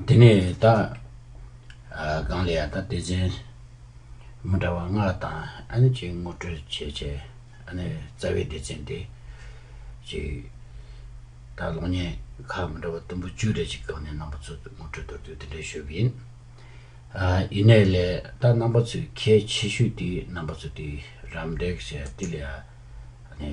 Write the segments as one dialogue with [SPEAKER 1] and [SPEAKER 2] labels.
[SPEAKER 1] དེ་ནས་ད་གང་ལས་ཡང་ད་དེ་བཞིན་མི་འདྲ་བ་ལྔ་དང་ཨ་ནི་ཅིག་ངོ་སྤྲོད་བྱེད་ཆེད་ཨ་ནི་རྩ་བའི་སྡེ་ཚན་དེ་ཅིག་ད་གློག་བརྙན་ཁག་མི་འདྲ་བ་དུམ་བུ་བཅུ་རེ་ཅིག་བཀག་ནས་རྣམ་པ་ཚོ་ངོ་སྤྲོད་དོར་དུས་དེ་འདྲའི་ཞུ་གི་ཡིན། ཡིན་ནའི་ལས་ད་རྣམ་པ་ཚོའི་ཁྱད་ཆེ་ཤོས་དེ་རྣམ་པ་ཚོ་དེ་རམ་འདེགས་བྱས་དེ་ལས་ཡང་ཨ་ནི།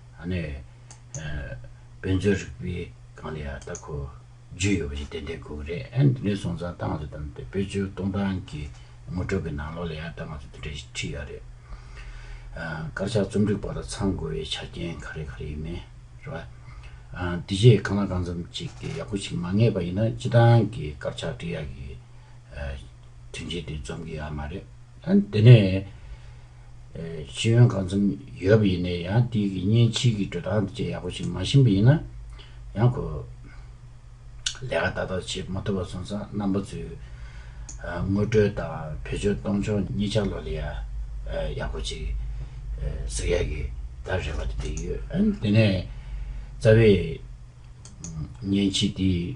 [SPEAKER 1] ཨ་ནེ། དཔེ་མཛོད་རིག་པའི་སྒང་ལ་ཡང་ལྟ་སྐོར་བརྒྱུད་ཡོད་པ་ཞིག་ཏན་ཏན་དགོས་ཀྱི་རེད་ཨེ་འདི་ནས་སོང་ཙང་ལྟ་སྔ་ཚོད་དང་དེ་བོད་ཆོལ་གཏོང་སྟངས་ཀྱི་ངོ་སྤྲོད་ཀྱི་ནང་ལོགས་ལ་ཡང་ལྟ་སྔ་ཚོད་དེ་འདྲ་ཞིག་ཁྲིད་ཡག་རེད། དཀར་ཆག་རྩོམ་སྒྲིག་པ་ལ་ཚང་དགོས་པའི་ཆ་རྐྱེན་ག་རེ་ག་རེ་ཡིན་མིན་རེད་པ། དེ་རྗེས་གང་ལ་གང་འཚམ་ཅིག་གིས་ཡག་པོ་ཞིག་མ་ངེས་པ་ཡིན་ན་སྤྱི་བཏང་གི་དཀར་ཆག་བྲིས་ཡག་གི་དོན་ཆེན་དེ་འཛོམས་གི་ཡོད་མ་རེད། དེ་ནས་ཤེས་ཡོན་གང་འཚམ་ཡོད་པ་ཡིན་ནའི་ཡང་དེ་ཡི་གཉེན་ཕྱིས་ཀྱི་འགྲོ་སྟངས་བཅས་ཡག་པོ་ཞིག་མ་ཤེས་པ་ཡིན་ན་ཡང་ཁོ་ལས་ཀ་ཏག་ཏག་བྱེད་མ་ཐུབ་པ་སོང་ཙང་རྣམ་པ་ཚོས་དངུལ་སྤྲོད་དང་བེད་སྤྱོད་གཏོང་ཕྱོགས་གཉིས་ཆ་ལོ་ལེ་ཡག་པོ་ཅིག་གཟིགས་ཡག་གི་ད་རེ་བ་དེ་དེ་ཡོད་དེ་ནས་རྩ་བའི་གཉེན་ཕྱིས་དེ།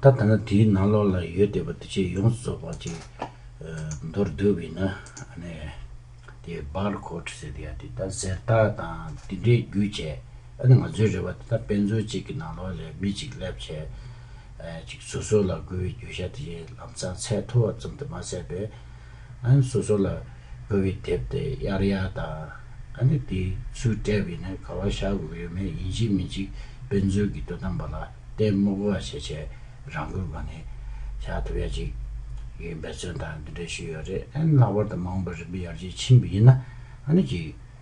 [SPEAKER 1] ད་ལྟ་ན་དེའི་ནང་ལོགས་ལ་ཡོད་བསྡད་པ་འདི་ཆེས་ཡོངས་སུ་རྫོགས་པ་ཅིག་མདོར་བསྡུས་པས་ན་དེ་བར་ཁོག་ཟེར་དེ་ཡང་དེ་ལྟར་གཟེར་རྟགས་དང་དེ་འདྲའི་རྒྱུ་བྱས་ཨ་ནི་ང་ཚོའི་རེ་བ་དེ་ལྟར་དཔེ་མཚོན་གཅིག་གི་ནང་ལོགས་ལས་མི་གཅིག་སླེབས་བྱས་ཅིག་སོ་སོ་ལ་དགོས་པའི་རྒྱུ་ཆ་དེ་བཞིན་ལམ་སང་ཚད་མཐོ་བ་ཙམ་དུ་མ་ཟད་པའི་ཨཱ་སོ་སོ་ལ་དགོས་པའི་དེབ་དེ་གཡར་ཡ་དང། ཨཱ་དེ་ཚོས་སྤྲད་པའི་ནི་ག་བ་བྱ་དགོས་ཡོད་མེད་ཡིན་གཅིག་མིན་གཅིག་དཔེ་མཛོད་ཀྱི་དོ་དམ་པ་ལ་ལྟད་མོ་གོ་བ་བྱེད་ཆེད་རང་འགུལ་སྒོ་ནས་བྱ་ཐུབ་ཡ་གཅིག་ཡིན་འབད་བརྩོན་དང་འདི་འདྲ་ཞུས་ཡོད་རེད་ཨཱ་ལྷག་པར་དུ་མ་འོངས་པར་རིམ་པས་ཡར་རྒྱས་ཕྱིན་པ་ཡིན་ན་ཨཱ་གཅིག་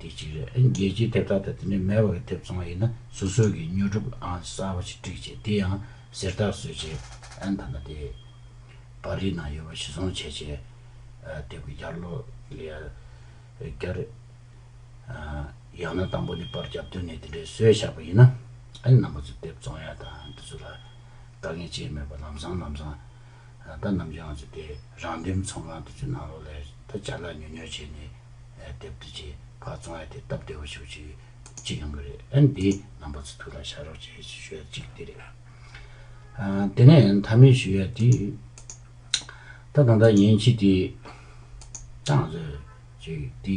[SPEAKER 1] དེ་གཅིག་རེད། རྒྱལ་སྤྱིའི་དེབ་རྟགས་དང་དེ་འདྲ་མེད་པ་གི་དེབ་ཚང་ཡིན་ན་སོ་སོ་གིས་ཉོ་སྒྲུབ་ཨང་གསར་པ་ཞིག་བསྒྲིགས་རྗེས་དེ་ཡང་གཟེར་རྟགས་བཟོས་རྗེས་ཨན་ཐ་ན་དེ་པར་རིས་ནང་ཡོད་པ་ཞིག་བཟུང་བྱས་རྗེས་དེབ་ཀྱི་ཡར་ཀློག་ལས་བསྐྱར། ཡང་ན་དང་པོ་ནས་པར་རྒྱབ་དོན་ནས་དེ་འདྲའི་སྲོལ་བཞག་པ་ཡིན་ན་ཨན་རྣམ་པ་ཚོས་དེབ་བཙོང་ཡ་དང་དེ་ཚོ་ལ་དཀའ་ངལ་ཆེ་མེད་པར་ལམ་སང་ལམ་སང། ད་ནམ་རྒྱུན་ང་ཚོ་དེ་རང་འདེམས་ཚོང་ཁང་དེ་ཚོའི་ནང་ལོག་ལ་ད་ཇག་ལ་ཉོ་ཉོ་བྱས་ནས་དེབ་དེ་ཆེ་ཁག་བཙོང་ཡ་དེ་སྟབས་བདེ་བོ་ཞིག་ཅིག་ཅིག་ཡོང་གི་རེད་ཨ་ནི་དེ་ནང་པ་ཚོ་ཐུགས་ལ་བཞག་རོགས་བྱས་ཞེས་ཞུ་ཡ་གཅིག་དེ་རེད། དེ་ནས་མཐའ་མའི་ཞུ་ཡ་དེ་ད་གང་ལྟར་ཡིན་ཕྱིས་དེ་ད་ང་ཚོ་ཅིག་དེ་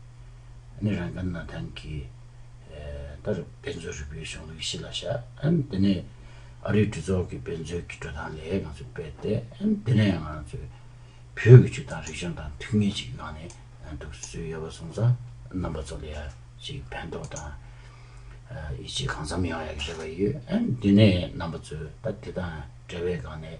[SPEAKER 1] ནི་རང་གི་སྣོད་ལྡན་གྱི་དེར་དཔེ་མཛོད་རི་བོའི་གཞུང་ལུགས་གཞི་ལ་བཞག། དེ་ནས་ཨ་རིའི་གྲོས་ཚོགས་ཀྱི་དཔེ་མཛོད་ཀྱི་བགྲོ་ཐང་ལས་ང་ཚོས་སྤེལ་ཏེ། དེ་ནས་ང་ཚོས་བོད་ཀྱི་ཆུ་དང་རི་གཞུང་དང་ཐུགས་ངེས་ཅིག་གནང་ནས་འདུག་སུས་ཡོད་པ་སོང་ཙང་རྣམ་པ་ཚོ་ལ་ཡར་ཅིག་ཕན་ཐོགས་དང། ཡིད་ཆེས་གང་འཚམ་ཡོང་ཡག་ཞེས་པ་ཡོད། དེ་ནས་རྣམ་པ་ཚོས་ད་དེ་དང་བྲལ་བའི་སྒང་ནས།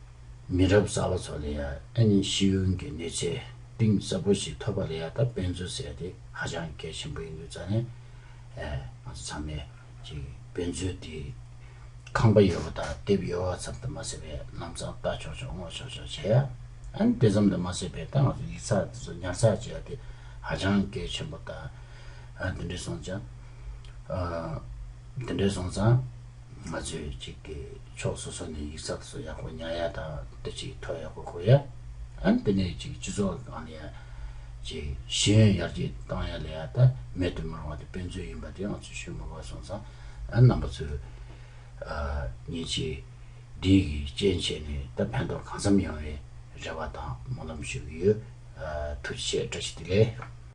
[SPEAKER 1] མི་རབས་གསར་བ་ཚོ་ལ་ཡང་ཨ་ནེ་ཤེས་ཡོན་གྱི་གནས་ཚད་གཏིང་ཟབ་པོ་ཞིག་ཐོབ་པ་ལ་ཡང་དག་དཔེ་མཚོན་བསལ་ཏེ་ཧ་ཅང་གལ་ཆེན་པོ་ཡིན་འདུག་རྩ་ནས། ང་ཚོ་ཚང་མས་ཀྱིས་དཔེ་མཚོན་དེ་ཁང་པ་ཡོད་པ་དང་དེབ་ཡོད་བ་ཙམ་དུ་མ་ཟད་པའི་རྣམ་གཙང་ལྟ་ཆོག་ཆོག་སྔོག་ཆོག་ཆོག་བྱེད་ཡ། ཨ་ནེ་དེ་ཙམ་དུ་མ་ཟད་པའི་ད་ང་ཚོ་ཡིག་ཚགས་དེ་ཚོ་ཉར་ཚགས་བྱེད་ཡ་དེ་ཧ་ཅང་གལ་ཆེན་པོ་དང། དེ་འདྲས་སོང་ཙང། ང་ཚོས་གཅིག་གི་ཕྱོགས་སོ་སོ་ནས་ཡིག་ཚགས་སུ་ཡག་པོ་ཉར་ཡ་དང་དུ་ཅིག་ཐོ་ཡག་པོ་གོ་ཡ། ཨན་པི་ནས་ཅིག་སྤྱི་ཚོགས་གང་ལ་ཡ། ཅིག་ཤེས་ཡོན་ཡར་རྒྱས་གཏང་ཡ་ལ་ཡ་ད་མེད་དུ་མི་རུང་བ་དེ་དཔེ་མཚོན་ཡིན་པ་དེ་ང་ཚོས་ཤུགས་མི་དགོས་སོང་ཙང་ཨན་རྣམ་པ་ཚོས། ཨ། ཉིན་ཅིག་སྒྲིག་གིས་སྤྱན་ཕྱེས་ནས་ད་ཕན་ཐོགས་གང་འཚམ་ཡོང་བའི་རེ་བ་དང་སྨོན་ལམ་ཞུ་གི་ཡོད། ཐུགས་རྗེ་ཆེ་བཀྲ་ཤིས་བདེ་ལེགས།